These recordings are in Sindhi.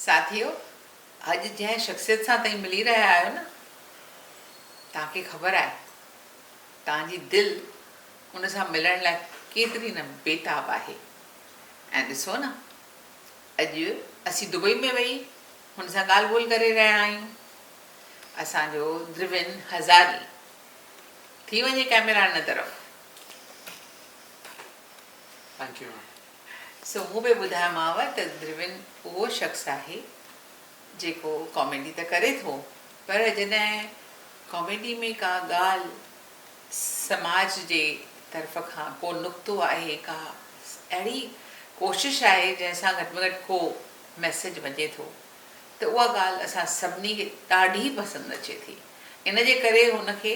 ساٿيو اڄ جنهن شخصيت سان تهين ملي رهيا آهيو نه تهان کي خبر آهي تهان جي دل ان سان ملڻ لاء ڪيتري نه بيتاب آهي ۽ ڏسو نه اڄ اسين دبئي ۾ ويهي هن سان ڳالهه ٻولهه ڪري رهيا آهيون اسان جو دروين هزاري ٿي وڃي ڪئميرا ان طرف. Thank you. سو مون به ٻڌايومانء ته دروين اهو شخص آهي جيڪو ڪاميڊي ته ڪري ٿو پر جڏهن ڪاميڊي ۾ ڪا ڳالهه سماج جي طرف کان ڪو نقطو آهي ڪا اهڙي ڪوشش آهي جنهن سان گهٽ ۾ گهٽ ڪو ميسيج وڃي ٿو ته اها ڳالهه اسان سڀني کي ڏاڍي پسند اچي ٿي ان جي ڪري هن کي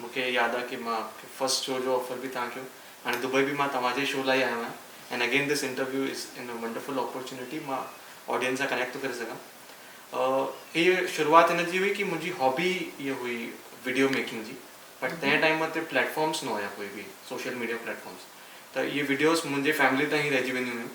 مون کي ياد آ ڪي مان فرسٽ شو جو آفر به تهان ڪيو هاڻي دبئي به مان توهان جي شو لاء ئي آيو آهيان and again this interview is an a wonderful opportunity مان آڊينس سان ڪنيڪٽ ٿو ڪري سگهان هي شروعات هن جي هئي ڪي منهنجي هابي هي هئي وڊيو ميڪنگ جي بٽ تنهن ٽائيم تي پليٽفارمس نه هيا ڪوئي به سوشل ميڊيا پليٽفارمس ته اهي وڊيوز منهنجي فيملي تائين رهجي وينديون هيون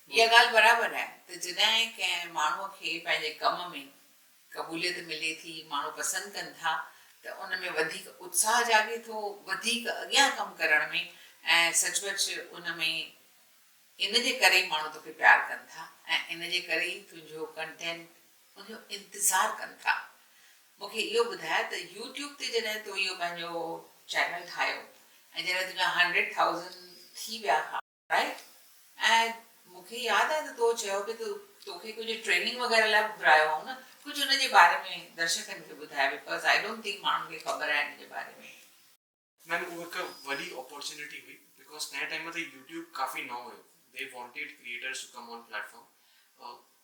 اها ڳالهه برابر آهي ته جڏهن ڪنهن ماڻهوء کي پنهنجي ڪم ۾ قبوليت ملي ٿي، ماڻهو پسند ڪن ٿا ته ان ۾ وڌيڪ اتساهه جاڳي ٿو، وڌيڪ اڳيان ڪم ڪرڻ ۾ ۽ سچ پچ ان ۾ ان جي ڪري ئي ماڻهو توکي پيار ڪن ٿا ۽ ان جي ڪري ئي تنهنجو ڪنٽينٽ ان جو انتظار ڪن ٿا. مون کي اهو ٻڌاء ته يو ٽيوب تي جڏهن تو اهو پنهنجو چينل ٺاهيو ۽ جڏهن تنهنجا هنڊريڊ ٿائوزنڊ ٿي ويا ها، Right ۽ مون کي ياد آهي ته تو چيو به ته توکي ڪجهه ٽريننگ وغيره لاء به گهرايو هئائون نه ڪجهه ان جي باري ۾ درشڪن کي ٻڌاء بڪاز آئي ڊونٽ ٿنڪ ماڻهن کي خبر آهي ان جي باري ۾. ميم هو هڪ وڏي اپورچونيٽي هئي بڪاز تنهن ٽائيم تي يوٽيوب ڪافي نئون هيو they wanted creators to come on platform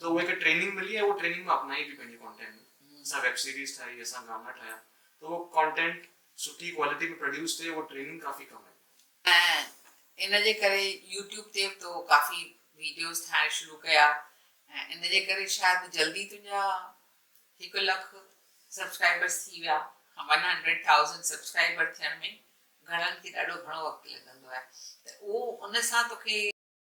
ته اهي کي ٽريننگ ملي ۽ هو ٽريننگ مان اپنائي به پنهنجي ڪانٽينٽ ۾ اسان ويب سيريز ٺاهي اسان گانا ٺاهيا ته اهو ڪانٽينٽ سٺي ڪوالٽي ۾ پروڊيوس ٿئي اهو ٽريننگ ڪافي ڪم آئي. ۽ ان جي ڪري يوٽيوب تي به تو ڪافي ويڊيوز ٺاهڻ شروع ڪيا ۽ ان جي ڪري شايد جلدي تنهنجا هڪ لک سبسڪرائبرز ٿي ويا ون هنڊريڊ ٿائوزنڊ سبسڪرائبر ٿيڻ ۾ گهڻن کي ڏاڍو گهڻو وقت لڳندو آهي ته اهو ان سان توکي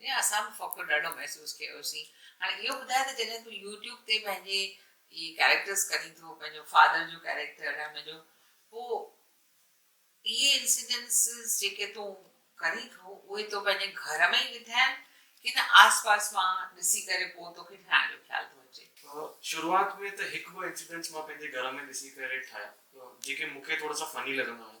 جنهن اسان به فخر ڏاڍو محسوس ڪيوسين. هاڻي اهو ٻڌاء ته جڏهن تون يوٽيوب تي پنهنجي اهي ڪيريڪٽرز ڪرين ٿو، پنهنجو فادر جو ڪيريڪٽر ۽ منهنجو، پوء اهي انسيڊنسز جيڪي تون ڪرين ٿو، اهي تو پنهنجي گهر ۾ ئي وڌاين ڪي نه آس پاس مان ڏسي ڪري پوء توکي ٺاهڻ جو خيال ٿو اچي؟ شروعات ۾ ته هڪ ٻه انسيڊنس مان پنهنجي گهر ۾ ڏسي ڪري ٺاهيا، جيڪي مونکي ٿورا سا فني لڳندا هيا.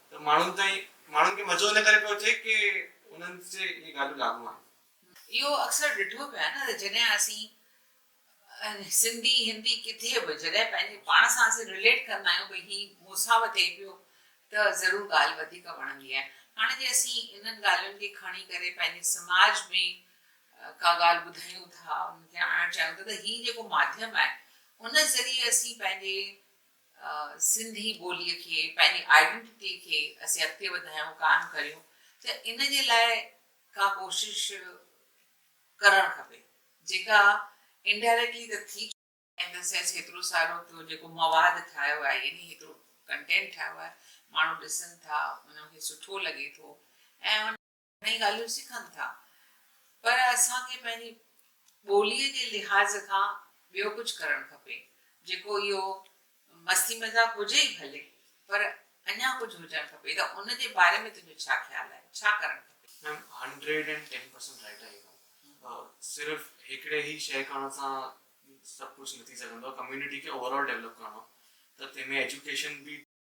ته ماڻهن تائين ماڻهن کي مزو ان ڪري پيو اچي ڪي انهن تي اهي ڳالهيون لاڳو آهن. اهو اڪثر ڏٺو پيو آهي نه ته جڏهن اسين سنڌي هندي ڪٿي به جڏهن پنهنجي پاڻ سان اسين رليٽ ڪندا آهيون ڀئي هي موساو ٿئي پيو ته ضرور ڳالهه وڌيڪ وڻندي آهي هاڻي جي اسين انهن ڳالهين کي کڻي ڪري پنهنجي سماج ۾ ڪا ڳالهه ٻڌايون ٿا ان کي آڻڻ چاهيون ٿا ته هي جيڪو ماڌيم آهي ان ذريعي اسين پنهنجي سنڌي ٻوليء کي، پنهنجي آئيڊنٽٽي کي اسين اڳتي وڌايون قائم ڪريون ته ان جي لاء ڪا ڪوشش ڪرڻ کپي جيڪا انڊائريڪٽلي ته ٿي چڪي. ان دي سينس هيترو سارو ٿيو جيڪو مواد ٺاهيو آهي يعني هيترو ڪنٽينٽ ٺاهيو آهي ماڻهو ڏسن ٿا انهن کي سٺو لڳي ٿو ۽ ان. ۽ ڳالهيون سکن ٿا پر اسان کي پنهنجي ٻوليء جي لحاظ کان ٻيو ڪجهه ڪرڻ کپي جيڪو اهو مستي مذاق هجي ئي ڀلي پر اڃا ڪجهه هجڻ کپي ته ان جي باري ۾ تنهنجو ڇا خيال آهي ڇا ڪرڻ کپي. Ma'am hundred and ten percent right آهي ميم صرف هڪڙي هي شي ڪرڻ سان سڀ ڪجهه نه ٿي سگهندو آهي ڪميونٽي کي اوور آل ڊيولپ ڪرڻو آهي ته تنهن ۾ ايجوڪيشن به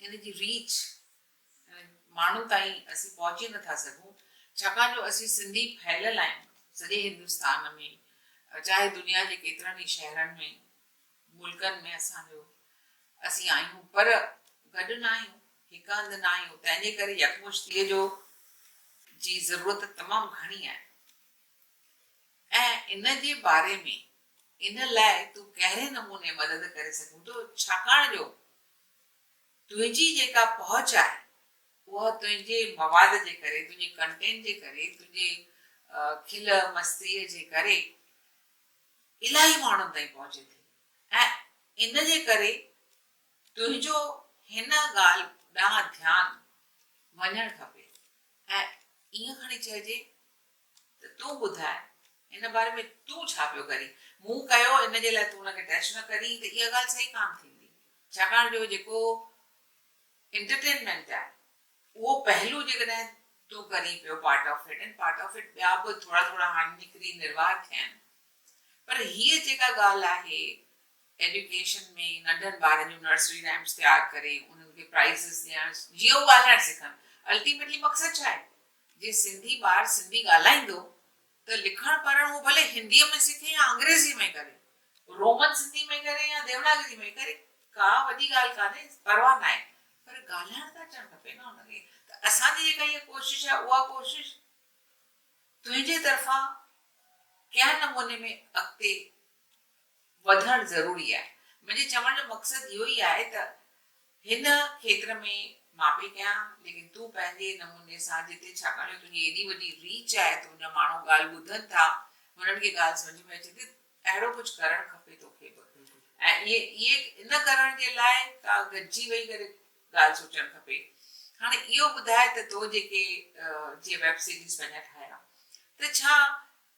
ان جي ريچ ۽ ماڻهن تائين اسين پهچي نٿا سگهون ڇاڪاڻ جو اسين سنڌي ڦهليل آهيون سڄي هندستان ۾ چاهي دنيا جي ڪيترن ئي شهرن ۾ ملڪن ۾ اسان جو اسين آهيون پر گڏ ناهيون هڪ هنڌ ناهيون تنهن جي ڪري يڪمشتيء جو جي ضرورت تمام گهڻي آهي ۽ ان جي باري ۾ ان لاء تون ڪهڙي نموني مدد ڪري سگهون ٿو ڇاڪاڻ جو تنهنجي جيڪا پهچ آهي اها تنهنجي مواد جي ڪري، تنهنجي ڪنٽينٽ جي ڪري، تنهنجي کل مستيء جي ڪري الاهي ماڻهن تائين پهچي ٿي ۽ ان جي ڪري تنهنجو هن ڳالهه ڏانهن ڌيان وڃڻ کپي ۽ ائين کڻي چئجي ته تون ٻڌاء ان باري ۾ تون ڇا پيو ڪرين؟ مون ڪيو ان جي لاء تون ان کي ٽچ نه ڪرين ته اها ڳالهه صحيح ڪانه ٿيندي ڇاڪاڻ جو جيڪو انٽرٽينمينٽ آهي اهو پهلو جيڪڏهن تون ڪرين پيو part of it and part of it ٻيا به ٿورا ٿورا هاڻي نڪري نروار ٿيا آهن پر هيء جيڪا ڳالهه آهي ايڊيوڪيشن ۾ ننڍن ٻارن جون نرسري رائمس تيار ڪري انهن کي پرائزز ڏيڻ جيئن هو ڳالهائڻ سکن الٽيميٽلي مقصد ڇا آهي؟ جي سنڌي ٻار سنڌي ڳالهائيندو ته لکڻ پڙهڻ هو ڀلي هنديء ۾ سکي يا انگريزيء ۾ ڪري، رومن سنڌيء ۾ ڪري يا ديوناگريء ۾ ڪري، ڪا وڏي ڳالهه ڪانهي، پرواهه ناهي، پر ڳالهائڻ ته اچڻ کپي نه هن کي، ته اسان جي جيڪا هيء ڪوشش آهي اها ڪوشش تنهنجي طرفان ڪنهن نموني ۾ اڳتي وڌڻ ضروري آهي. منهنجي چوڻ جو مقصد اهو ئي آهي ته هن کيتر ۾ مان پئي ڪيان ليڪن تون پنهنجي نموني سان جتي ڇاڪاڻ جو تنهنجي ايڏي وڏي ريچ آهي ته تنهنجا ماڻهو ڳالهه ٻڌن ٿا هنن کي ڳالهه سمجهه ۾ اچي ٿي اهڙو ڪجهه ڪرڻ کپي توکي به ۽ اهي ان ڪرڻ جي لاء ڪا گڏجي ويهي ڪري ڳالهه سوچڻ کپي هاڻي اهو ٻڌاء ته تو جيڪي جي ويب سيريز پنهنجا ٺاهيا ته ڇا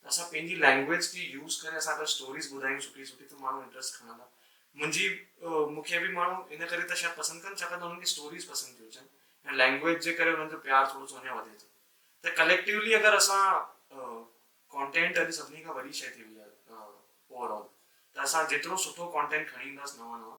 ته اسان پنهنجي لينگويج کي يوز ڪري اسان اگر اسٽوريز ٻڌايون سٺي سٺي ته ماڻهو انٽرسٽ کڻندا منهنجي مون کي به ماڻهو ان ڪري ته شايد پسند ڪن ڇاڪاڻ ته انهن کي اسٽوريز پسند ٿيون اچن ۽ لينگويج جي ڪري انهن جو پيار ٿورو سو اڃا وڌي ٿو ته ڪليڪٽويلي اگر اسان ڪانٽينٽ اڄ سڀني کان وڏي شيء ٿي وئي آهي اوور آل ته اسان جيترو سٺو ڪانٽينٽ کڻي اينداس نوان نوان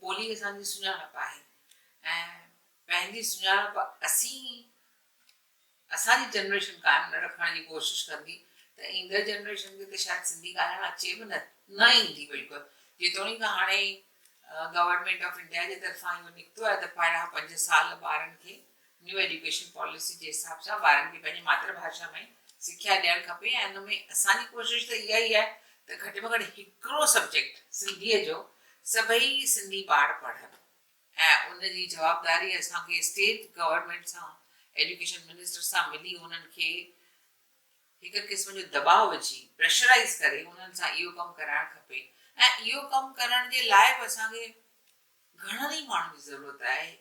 ٻولي اسان جي سڃاڻپ آهي ۽ پنهنجي سڃاڻپ اسين ئي اسان جي جنريشن قائم نه رکڻ جي ڪوشش ڪندي ته ايندڙ جنريشن کي ته شايد سنڌي ڳالهائڻ اچي به نه نه ايندي بلڪل جيتوڻيڪ هاڻي گورنمينٽ آف انڊيا جي طرفان اهو نڪتو آهي ته پهريان پنج سال ٻارن کي نيو ايڊيوڪيشن پاليسي جي حساب سان ٻارن کي پنهنجي ماتر ڀاشا ۾ سکيا ڏيڻ کپي ۽ ان ۾ اسان جي ڪوشش ته اها ئي آهي ته گهٽ ۾ گهٽ هڪڙو سبجيڪٽ سنڌيء جو سڀئي سنڌي ٻار پڙهن ۽ ان جي جوابداري اسان کي اسٽيٽ گورنمينٽ سان ايڊيوڪيشن منسٽر سان ملي انهن کي هڪ قسم جو دٻاء وجهي پريشرائيز ڪري انهن سان اهو ڪم ڪرائڻ کپي ۽ اهو ڪم ڪرڻ جي لاء به اسان کي گهڻن ئي ماڻهن جي ضرورت آهي.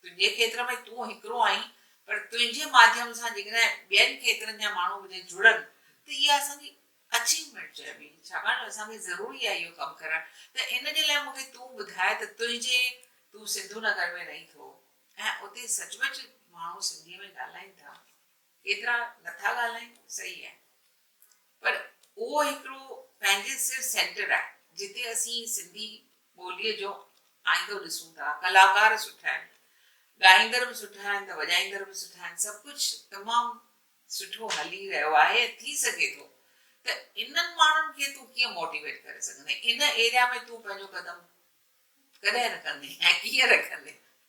تنهنجي کيتر ۾ تون هڪڙو آهين، پر تنهنجي ماڌيم سان جيڪڏهن ٻين کيترن جا ماڻهو به جي جڙن ته اها اسان جي اچيومينٽ چئبي، ڇاڪاڻ جو اسان کي ضروري آهي اهو ڪم ڪرڻ ته ان جي لاء مون کي تون ٻڌاء ته تنهنجي تون سنڌو نگر ۾ رهين ٿو ۽ اتي سچ پچ ماڻهو سنڌي ۾ ڳالهائين ٿا. ڪيترا نٿا ڳالهائين صحيح آهي پر اهو هڪڙو پنهنجي سر سينٽر آهي جتي اسين سنڌي ٻوليء جو آئيندو ڏسون ٿا، ڪلاڪار سٺا آهن، ڳائيندڙ به سٺا آهن ته وڄائيندڙ به سٺا آهن، سڀ ڪجهه تمام سٺو هلي رهيو آهي ٿي سگهي ٿو ته انهن ماڻهن کي تون ڪيئن موٽيويٽ ڪري سگهندين ان ايريا ۾ تون پنهنجو قدم ڪڏهن رکندين ۽ ڪيئن رکندين.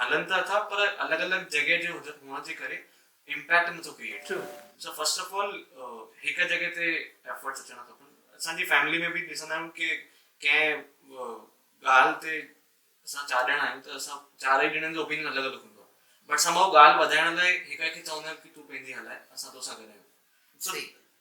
هلن ته اٿا پر الڳ الڳ جڳهه جي هئڻ جي ڪري امپيڪٽ نه ٿو ڪريئيٽ ٿئي سو فرسٽ آف آل هڪ جڳهه تي ايفرٽس اچڻ کپن اسان جي فيملي ۾ به ڏسندا آهيون ڪي ڪنهن ڳالهه تي اسان چار ڄڻا آهيون ته اسان چارئي ڄڻن جو اوپينين الڳ الڳ هوندو آهي بٽ سم هاء ڳالهه وڌائڻ لاء هڪ کي چوندا آهيون ڪي تون پنهنجي هلاء اسان توسان گڏ آهيون سو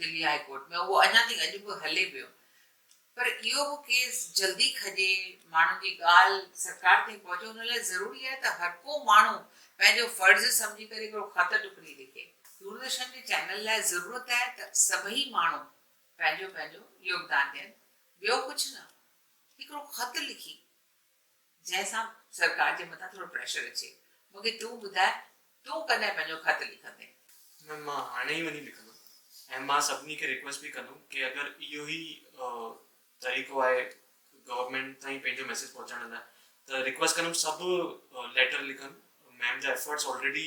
دلي هاء ڪورٽ ۾ اهو اڃا تائين اڄ به هلي پيو پر اهو به ڪيس جلدي کڄي ماڻهن جي ڳالهه سرڪار تائين پهچي ان لاء ضروري آهي ته هرڪو ماڻهو پنهنجو فرض سمجهي ڪري هڪڙو خط ٽڪڙي لکي. دوردرشن جي چينل لاء ضرورت آهي ته سڀئي ماڻهو پنهنجو پنهنجو يوگدان ڏين ٻيو ڪجهه نه هڪڙو خط لکي. جنهن سان سرڪار جي مٿان ٿورو پريشر اچي. مون کي تون ٻڌاء تون ڪڏهن پنهنجو خط لکندين؟ ميم مان هاڻي ئي وڃي لکندم ۽ مان سڀني کي ريڪويسٽ به ڪندم ڪي اگر اهو ئي طريقو آهي گورنمينٽ تائين پنهنجو ميسيج پهچائڻ لاء ته ريڪويسٽ ڪندم سڀ ليٽر لکن ميم جا ايفرٽس آلريڊي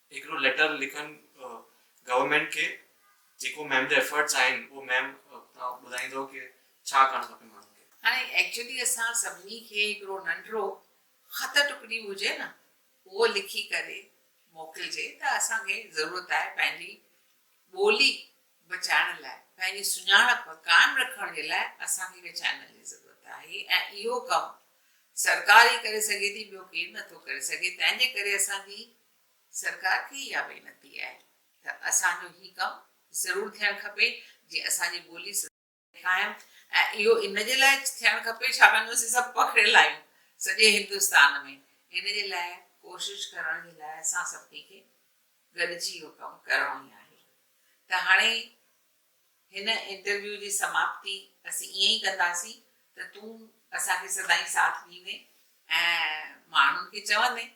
هڪڙو ليٽر لکن گورنمينٽ کي جيڪو ميم جا ايفرٽس آهن اهو ميم تون ٻڌائيندو ڪي ڇا ڪرڻ کپي ماڻهن کي. هاڻي ايڪچولي اسان سڀني کي هڪڙو ننڍڙو خط ٽڪڙي هجي نه اهو لکي ڪري موڪلجي ته اسان کي ضرورت آهي پنهنجي ٻولي بچائڻ لاء پنهنجي سڃاڻپ قائم رکڻ جي لاء اسان کي هڪ چينل جي ضرورت آهي ۽ اهو ڪم سرڪار ئي ڪري سگهي ٿي ٻيو ڪير نٿو ڪري سگهي تنهن جي ڪري اسان جي سرڪار کي اها وينتي آهي ته اسان جو هي ڪم ضرور ٿيڻ کپي جي اسان جي ٻولي سڌاري. قائم ۽ اهو ان جي لاء ٿيڻ کپي ڇاڪاڻ جو اسين سڀ پکڙيل آهيون سڄي هندستان ۾ ان جي لاء ڪوشش ڪرڻ جي لاء اسان سڀني کي گڏجي اهو ڪم ڪرڻو ئي آهي ته هاڻي هن انٽرويو جي سماپتي اسين ائين ئي ڪنداسين ته تون اسان کي سدائين ساٿ ڏيندين ۽ ماڻهن کي چوندين